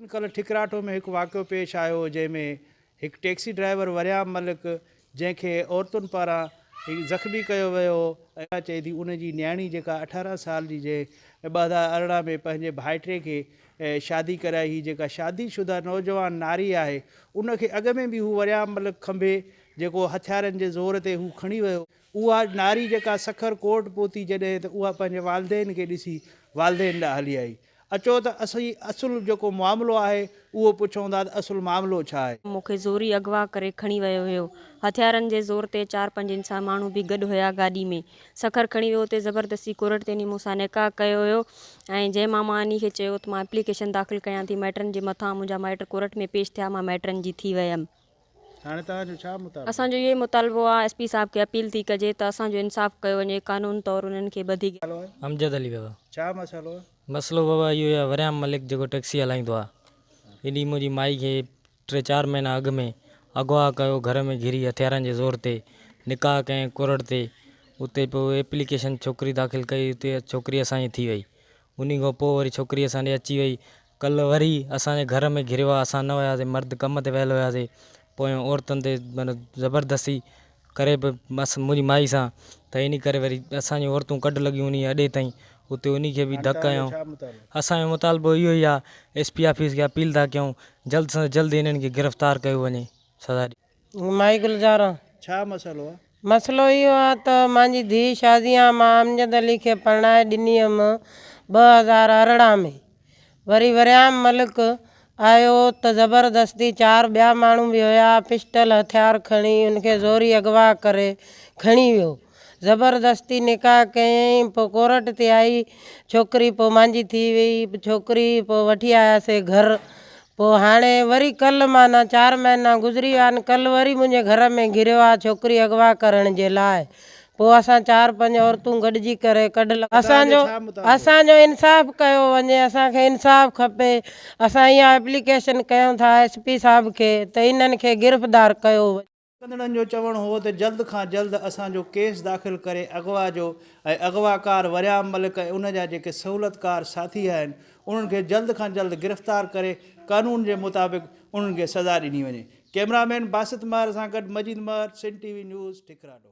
ان ڪلهه ٺڪراٺو ۾ هڪ واقعو پيش آيو هو جنهن ۾ هڪ ٽيڪسي ڊرائيور وريام ملڪ جنهن کي عورتن پاران زخمي ڪيو ويو هو ۽ چئي ٿي ان جي نياڻي جيڪا اٺارهن سال جي جنهن ٻه هزار ارڙهن ۾ پنهنجي ڀائٽي کي شادي ڪرائي هئي جيڪا شادي شده نوجوان ناري آهي ان کي اڳ ۾ به هو وريام ملڪ کنڀي جيڪو هٿيارن جي زور تي هو کڻي ويو اها ناري جيڪا سکر ڪورٽ پهتي جڏهن ته اها پنهنجي والدين کي ڏسي والدين ڏانهن هلي آئي. اچو ته اسين اصل جيڪو معاملو آهي اهو پڇون ٿا ته اصل معاملو ڇا آهي؟ مون کي زوري اغوا ڪري کڻي ويو هيو. هٿيارن جي زور تي چار پنج انسان ماڻهو به گڏ هيا گاڏي ۾. سکر کڻي ويو اتي زبردستي ڪورٽ تي ني مون سان نڪاح ڪيو هيو ۽ جنهن مان مان انهي کي چيو ته مان اپليڪيشن داخل ڪيان ٿي مائٽن جي مٿان منهنجا مائٽ ڪورٽ ۾ پيش ٿيا مان مائٽن جي ٿي ويم. هاڻي توهان جو ڇا مطالبو؟ اسان جو اهوئي مطالبو آ ايس پي صاحب کي اپيل ٿي ڪجي ته اسان جو انصاف ڪيو وڃي قانون طور انهن کي ٻڌي گهرجي. امجد علي بابا ڇا مسئلو آ؟ مسئلو بابا اهو ئي آ وريام ملڪ جيڪو ٽيڪسي هلائيندو آ ان ڏينهن منهنجي مائي کي ٽي چار مهينا اڳ ۾ اغوا ڪيو گهر ۾ گهري هٿيارن جي زور تي نڪاح ڪئين ڪرڙ تي اتي پوء ايپليڪيشن ڇوڪري داخل ڪئي اتي ڇوڪري اسان جي ٿي وئي انهي کان پوء وري ڇوڪري اسان ڏي اچي وئي. ڪل وري اسان جي گهر ۾ گهريو آ، اسان نه هياسين، مرد ڪم تي ويل هياسين، پويان عورتن تي معنيٰ زبردستي ڪري به مس منهنجي مائي سان، ته انهي ڪري وري اسان جون عورتون ڪڍ لڳيون انهي اڏي تائين، اتي انهي کي به ڌڪ هنيائون. اسان جو مطالبو اهو ئي آ، ايس پي آفيس کي اپيل ٿا ڪيون، جلد سان جلد انهن کي گرفتار ڪيو وڃي، سزا ڏيو. مائي گلزاران، ڇا مسئلو آ؟ مسئلو اهو آ ته مانجي ڌيء شازيان مان امجد علي کي پرڻائي ڏني هيم ٻه هزار ارڙهن ۾، وري وريام ملڪ آيو ته زبردستي چار ٻيا ماڻهو به هيا پسٽل هٿيار کڻي ان کي زوري اغوا ڪري کڻي ويو زبردستي نڪاح ڪيائين پوء ڪورٽ تي آئي ڇوڪري پوء مانجي ٿي وئي ڇوڪري پوء وٺي آياسي گهر پوء هاڻي وري ڪل معنيٰ چار مهينا گذري ويا آهن ڪل وري منهنجي گهر ۾ گهريو آهي ڇوڪري اغوا ڪرڻ جي لاء پوء اسان چار پنج عورتون گڏجي ڪري ڪڍ لڳو اسان جو اسان جو انصاف ڪيو وڃي اسان کي انصاف کپي اسان اها ايپليڪيشن ڪيون ٿا ايس پي صاحب کي ته انهن کي گرفدار ڪيو وڃي. ڪندڙن جو چوڻ هو ته جلد کان جلد اسان جو ڪيس داخل ڪري اغوا جو ۽ اغواڪار وريام ملڪ ۽ ان جا جيڪي سهولتڪار ساٿي آهن انهن کي جلد کان جلد گرفتار ڪري قانون جي مطابق انهن کي سزا ڏني وڃي ڪيمرامين باسط مهر سان گڏ Majeed Mehar Sindh T V news ٺڪراڊو.